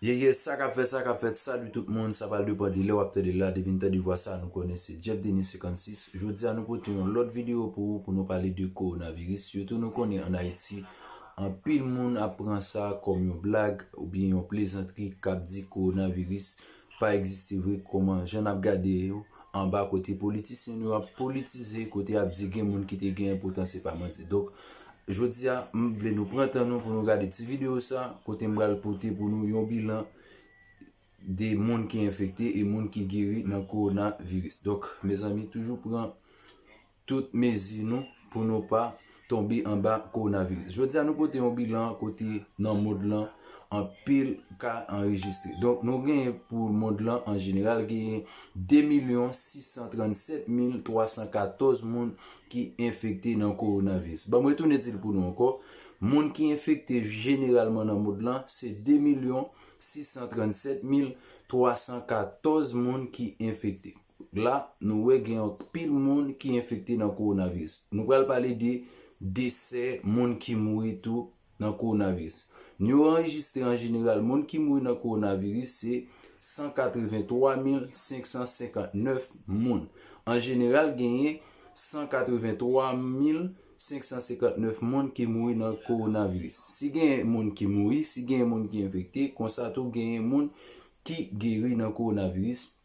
Ye ye sa kap fè sa kap fèt salut tout moun sa pral depan de lè wap tande la depi n tande vwa sa nou konnen se Jeff Denis 56 jodi a nou pote yon lòt video pou ou pou nou pale de coronavirus sitou nou konnen an Ayiti anpil moun ap pran sa kòm yon blag oubyen yon plezantri kap di coronavirus pa egziste vre kòman jan nap gade yo anba kote politisyen nou yo ap politize kote yap di gen moun kite gen enpotan se pa manti donk jodia m vle nou pran tan nou pou nou gade ti video sa kote m pral pote pou nou yon bilan de moun ki enfekte e moun ki geri nan kowona viris donk mezanmi toujou pran tout mezi nou pou nou pa tonbe anba kowonaviris. Jodi a nou pote yon bilan kote nan mond lan anpil ka anrejistre. Donk nou genyen pou mond lan an jeneral genyen 2 milyon 637 mil 314 moun ki enfekte nan kowonaviris. Banm retounen di l pou nou ankò, moun ki enfekte jeneralman nan mond lan se 2 milyon 637 mil 314 moun ki enfekte. la nou wè gen anpil moun ki enfekte nan kowonaviris. Nou pral pale de desè, moun ki mouri tou nan kowonaviris. Nou yo anrejistre an jeneral moun ki mouri nan kowonaviris se 183559 moun. An jeneral genyen 183559 moun ki mouri nan kowonaviris. Si genyen moun ki mouri, si genyen moun ki enfekte, konsa tou genyen moun ki geri nan kowonaviris.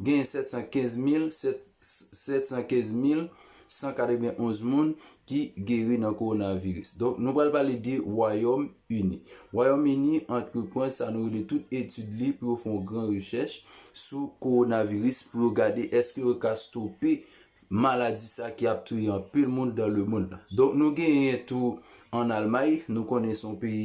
Genyen 715,715,191 moun ki geri nan kowonaviris. Donk nou pral pale de Wayòm Ini. Wayòm Ini antreprann sa nou rele tout etid li pou yo fè yon gran rechèch sou kowonaviris pou yo gade eske yo ka stope maladi sa ki ap touye anpil moun dan lemond la. Donk nou genyen tou an Almay, nou konnen se yon peyi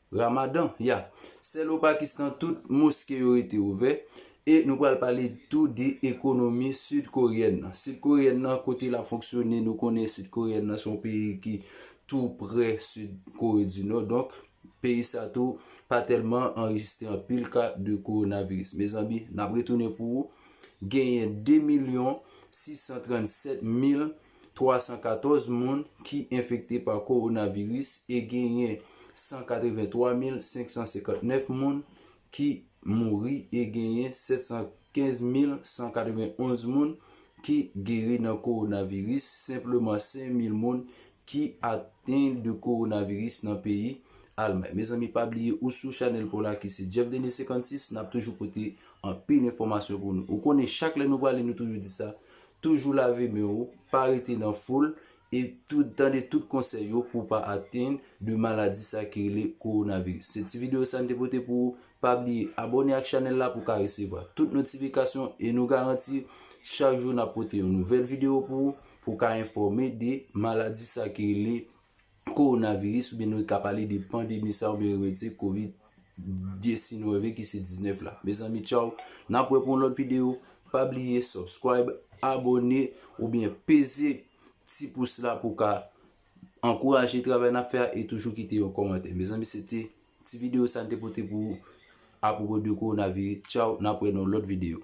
Ramadan, ya. Sèl o Pakistan tout moske yo rete ouvè. E nou pral pale tou de ekonomi Sid Koryèn nan. Sid Koryèn nan kote lap fonksyone nou konnen Sid Koryèn nan son peyi ki tou prè Sid Kore di Nò donk peyi sa tou pa tèlman anrejistre anpil ka de kowonaviris. Mezanmi nap retounen pou ou genyen 2 milyon 637 mil 314 moun ki enfekte pa kowonaviris e genyen 183559 moun ki mouri e genyen 715191 moun ki geri nan kowonaviris, senpleman 5 mil moun ki aten de kowonaviris nan peyi Almay. Mezanmi pa bliye ou sou chanèl paw la ki se Jeff Denis 56 nap toujou pote anpil enfòmasyon pou nou. Ou konnen chak lè nou pale nou toujou di sa, Toujou lave men ou, pa rete nan foul, e tou tande tout konsèy yo pou w pa atenn de maladi sa ki rele Coronavirus. Se ti videyo sa n te pote pou ou, pa bliye abòne ak chanèl la pou w ka resevwa tout notifikasyon e nou garanti chak jou n ap pote yon nouvèl videyo pou ou, pou w ka enfòme de maladi sa ki rele Kowonaviris oubyen nou ka pale de pandemi sa oubyen remèd se covid 19 ki se 19 la mezanmi tchaww nap wè pou yon lòt video pa bliye subscribe abòne oubyen peze ti pous la pou ka ankouraje travay nap fè a e toujou kite yon kòmantè mezanmi se te ti video sa n te pote pou ou apropo de kowonaviris tchaww nap wè nan yon lòt video.